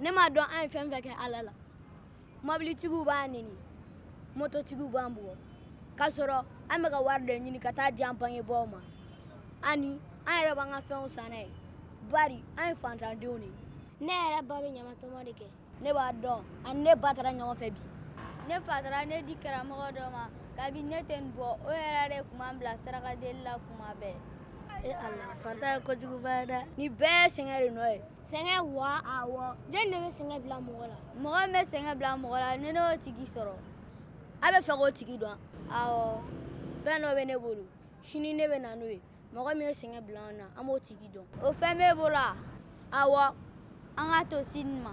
ne m'a dɔn an ye fɛn fɛn kɛ ala la mobilitigiw b'an neni mototigiw b'an bugɔ k'a sɔrɔ an bɛ ka wari dɔ ɲini ka taa di an bangebaaw ma ani an yɛrɛ b'an ka fɛnw san n'a ye bari an ye fantandenw de ye ne yɛrɛ ba bɛ ɲamatɔmɔ de kɛ ne b'a dɔn ani ne ba taara ɲɔgɔn fɛ bi ne fa taara ne di karamɔgɔ dɔ ma kabi ne tɛ nin bɔ o yɛrɛ de tun b'an bila sarakadeli la kuma bɛɛ e ala fantanya ye kojuguba ye dɛ nin bɛɛ sɛgɛn de nɔ ye sɛgɛn wa awɔ jɔni de bɛ sɛgɛn bila mɔgɔ la mɔgɔ min bɛ sɛgɛn bila mɔgɔ la ni n y'o tigi sɔrɔ a b'a fɛ k'o tigi dɔn awɔ fɛn dɔ bɛ ne bolo sini ne bɛ na n'o ye mɔgɔ min ye sɛgɛn bila an na an b'o tigi dɔn o fɛn b'e bolo wa awɔ an k'a to sini ma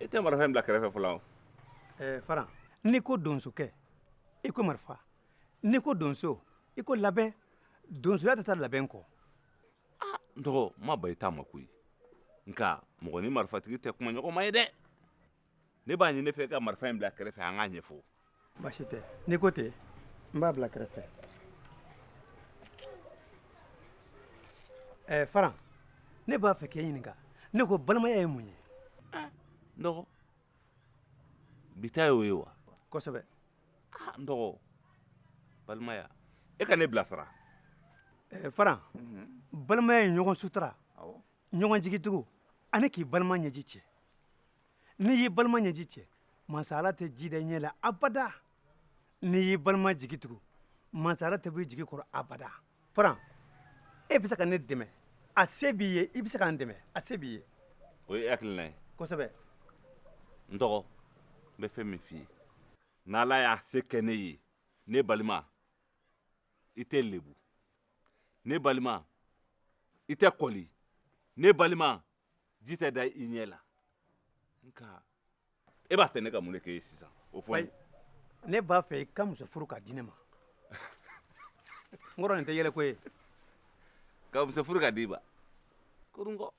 i tɛ marifa in bila kɛrɛfɛ fɔlɔ wa ɛɛ faran n'i ko donsokɛ i ko marifa n'i ko donso i ko labɛn donsoya tɛ taa labɛn kɔ n dɔgɔ n ma ban i ta ma koyi nka mɔgɔ ni marifatigi tɛ kumaɲɔgɔnma ye dɛ ne b'a ɲini e fɛ e ka marifa in bila kɛrɛfɛ an k'a ɲɛfɔ baasi tɛ n'i ko ten n b'a bila kɛrɛfɛ ɛɛ eh, faran ne b'a fɛ k'e ɲininka ne ko balimaya ye mun ye eh, n dɔgɔ bi ta y'o ye wa kosɛbɛ ah, n dɔgɔ balimaya e ka ne bilasira eh, faran mhm. balimaya ye ɲɔgɔn sutura ɲɔgɔnjigitugu ani k'i balima ɲɛji cɛ n'i y'i balima ɲɛji cɛ masa ala tɛ ji da i ɲɛ la abada n'i y'i balima jigi tugu masa ala tɛ bɔ i jigi kɔrɔ abada faran e bɛ se ka ne dɛmɛ a se b'i ye i bɛ se ka n dɛmɛ a se b'i ye o ye hakilina ye kosɛbɛ n dɔgɔ n bɛ fɛn min f'i ye n'ala y'a se kɛ ne ye ne balima i tɛ lebu ne balima i tɛ kɔli ne balima ji tɛ da i ɲɛ la nka e b'a fɛ ne ka mun de k'e ye sisan o fɔ n ye ne b'a fɛ i ka muso furu k'a di ne ma n kɔrɔ nin tɛ yɛlɛko ye ka muso furu k'a d'i ma kurungɔ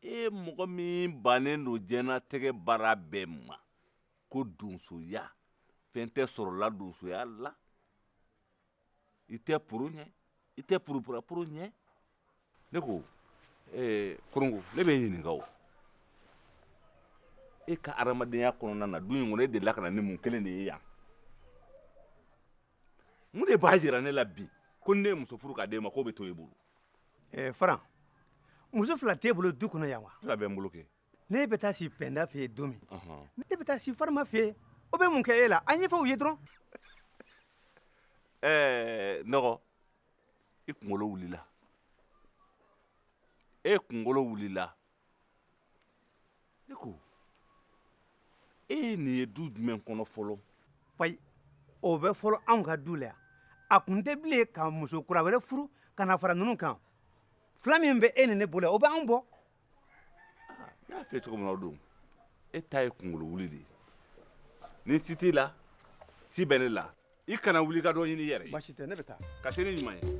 e mɔgɔ min bannen don diɲɛlatigɛ baara bɛɛ ma ko donsoya fɛn tɛ sɔrɔla donsoya la i tɛ poro ɲɛ i tɛ poroparaporo ɲɛ ne ko ɛɛ kurungɔ ne b'e ɲininka o e ka adamadenya kɔnɔna na du in kɔnɔ e delila ka na ni mun kelen de ye yan mun de b'a jira ne la bi ko ni ne ye muso furu k'a d'e ma k'o bɛ to e bolo ɛɛ faran muso fila t'e bolo du kɔnɔ yan wa fila bɛ n bolo kɛ ne bɛ taa si pɛnda fɛ yen don min ne bɛ taa si farima fɛ yen o bɛ mun kɛ e la an ɲɛfɔ u ye dɔrɔn ɛɛ n dɔgɔ i kunkolo wulila e kunkolo wulila ne ko e ye nin ye du jumɛn kɔnɔ fɔlɔ ayi o bɛ fɔlɔ anw ka du la yan a kun tɛ bilen ka muso kura wɛrɛ furu ka na fara ninnu kan fila min bɛ e ni ne bolo yan o bɛ anw bɔ N y'a fɔ cogo min don e ta ye kunkolo wuli de ye ni ci t'i la ci bɛ ne la i kana wuli ka dɔ ɲini yɛrɛ baasi tɛ ne bɛ taa ka se ne ɲuman ye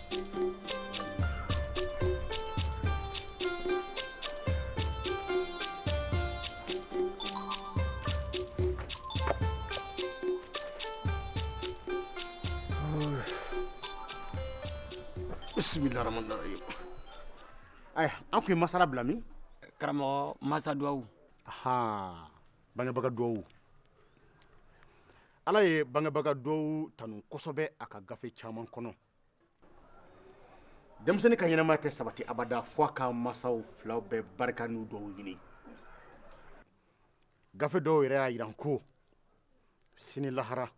An tun ye masala bila min karamɔgɔ masa dugawu bangebaga dugawu ala ye bangebaga dugawu tanu kosɛbɛ a ka gafe caman kɔnɔ denmisɛnnin ka ɲɛnamaya tɛ sabati abada fo a ka masaw fila bɛɛ barika n'u dugawu ɲini gafe dɔw yɛrɛ y'a jiran ko sini lahara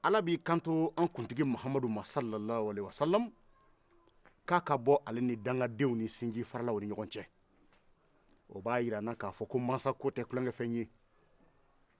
ala b'i kanto an kuntigi mahamadu ma sallallahu alaihi wasallam k'a ka bɔ ale ni dangadenw ni sinji faralaw ni ɲɔgɔn cɛ o b'a jira an na k'a fɔ ko masa ko tɛ tulonkɛfɛn ye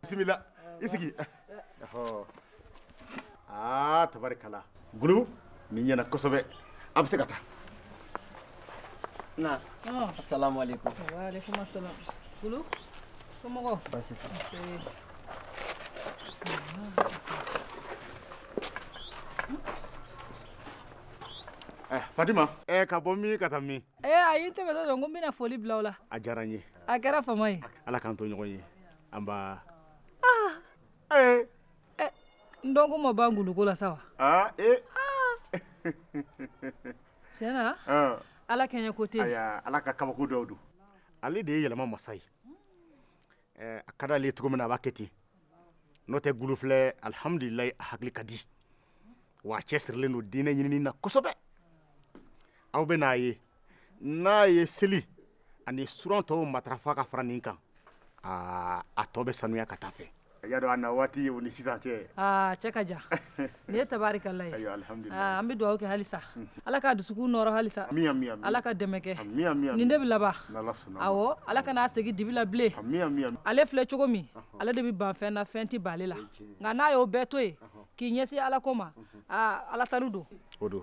bisimila i sigi ɔhɔ aa tabarikala gulu nin ɲɛna kosɛbɛ a bɛ se ka taa na asalamu aleykum Waalaikum assalam. Gulu, somɔgɔw? Baasi tɛ. Nse. Eh, fatima eh, ka bɔ min ka taa min Ee ayi n tɛmɛtɔ don ko n bɛna foli bila aw la a diyara n ye a kɛra fama ye ala k'an to ɲɔgɔn ye N dɔgɔ ma ban gulu ko la sa wa tiɲɛ na ala kɛɲɛ ko tɛ ala ka kabako dɔw don ale de ye yɛlɛma masa ye a ka di ale cogo min na a b'a kɛ ten n'o tɛ gulu filɛ alihamdulila a hakili ka di wa a cɛsirilen don diinɛ ɲinini na kosɛbɛ aw bɛ n'a ye n'a ye seli ani suran tɔw matarafa ka fara nin kan aa a tɔ bɛ sanuya ka taa a fɛ a y'a dɔn a na waati ye o ni sisan cɛ a cɛ ka jan nin ye tabaarikala ye ayiwa alhamdulilayi aa an bɛ dugawu kɛ halisa ala ka dusukun nɔɔrɔ halisa ami ami ami ala ka dɛmɛ kɛ ami ami ami nin de bɛ laban n'ala sɔnna a ma awɔ ala kana a segin dibi la bilen ami ami ami ale filɛ cogo min ale de bɛ ban fɛn na fɛn tɛ ban ale la nka n'a y'o bɛɛ to yen k'i ɲɛsin ala ko ma aa ala tanu don o don